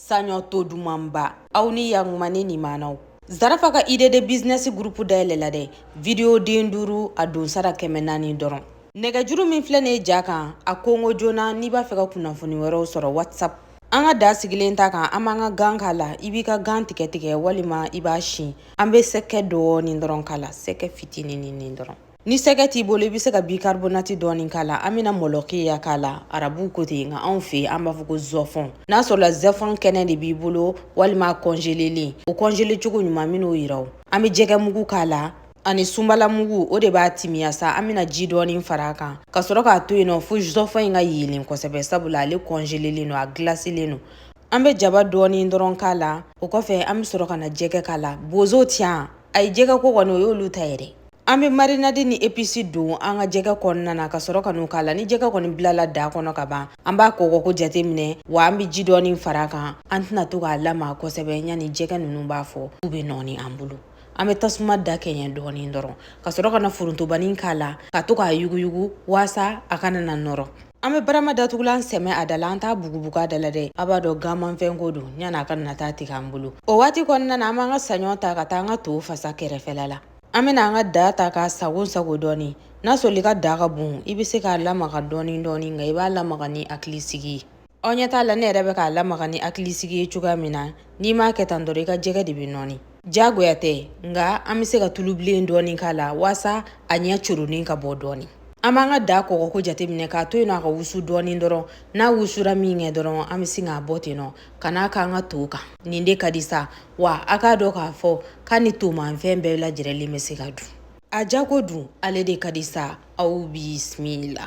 saɲɔ to dumanba aw ni yakuma ne nimanaw zarafa ka ide de bizinɛsi gurupu dayɛlɛla dɛ vidiyo den duuru a don sara kɛmɛ naani dɔrɔn nɛgɛjuru min filɛ nin ye ja kan a kongo joona n'i b'a fɛ ka kunnafoni wɛrɛw sɔrɔ whatsapp an ka da sigilen ta kan an b'an ka gan k'a la i b'i ka gan tigɛ tigɛ walima i b'a si an bɛ sɛgɛ dɔɔnin dɔrɔn k'a la sɛgɛ fitinin ni dɔrɔn ni sɛgɛ t'i bolo i bɛ se ka bikarbonati dɔɔni k'a la an bɛna mɔlɔkiya k'a la arabuw ko ten nka anw fɛ an b'a fɔ ko zɔfɔn n'a sɔrɔla zɔfɔn kɛnɛ de b'i bolo walima kɔnjelelen o kɔnjele cogo ɲuman min'o yira o an bɛ jɛgɛ mugu k'a la ani sunbala mugu o de b'a timiya sa an bɛna ji dɔɔni fara a kan ka sɔrɔ k'a to yen nɔ fo zɔfɔn in ka yeelen kosɛbɛ sabula ale kɔnjelelen don a gilaselen don an bɛ jaba dɔɔni dɔrɔn k'a la o kɔfɛ an bɛ sɔrɔ ka na jɛgɛ k'a la bozo tiɲan a ye jɛgɛ ko kɔni o y'olu ta yɛrɛ An bɛ marinadi ni episi don an ka jɛgɛ kɔnɔna na ka sɔrɔ ka n'u k'a la ni jɛgɛ kɔni bilala da kɔnɔ ka ban an b'a kɔgɔko jateminɛ wa an bɛ ji dɔɔni fara a kan an tɛna to k'a lamaga kosɛbɛ yanni jɛgɛ ninnu b'a fɔ u bɛ nɔɔni an bolo an bɛ tasuma da kɛɲɛ dɔɔni dɔrɔn ka sɔrɔ ka na forontobani k'a la ka to k'a yuguyugu waasa a kana na nɔrɔ an bɛ barama datugulan sɛmɛ a da la an t'a bugubugu a da la dɛ a b'a dɔn ganmanfɛnko don yan'a ka na taa tigɛ an bolo o waati kɔnɔna na an b'an ka saɲɔ ta ka taa an ka to fasa kɛrɛfɛla la An bɛna an ka da ta k'a sago sago dɔɔnin n'a sɔrɔ i ka da ka bon i bɛ se k'a lamaga dɔɔnin dɔɔnin nka i b'a lamaga ni hakilisigi ye aw ɲɛ t'a la ne yɛrɛ bɛ k'a lamaga ni hakilisigi ye cogoya min na n'i m'a kɛ tan dɔrɔn i ka jɛgɛ de bɛ nɔɔni jagoya tɛ nka an bɛ se ka tulubilen dɔɔnin k'a la waasa a ɲɛ coronin ka bɔ dɔɔnin an b'an ka da kɔgɔko jateminɛ k'a to yen nɔ a ka wusu dɔɔnin dɔrɔn n'a wusura min kɛ dɔrɔn an bɛ sin k'a bɔ ten nɔ ka n'a k'an ka to kan nin de ka di sa wa a k'a dɔn k'a fɔ k'a ni tomanfɛn bɛɛ lajɛrɛlen bɛ se ka dun a jago dun ale de ka di sa aw bisimila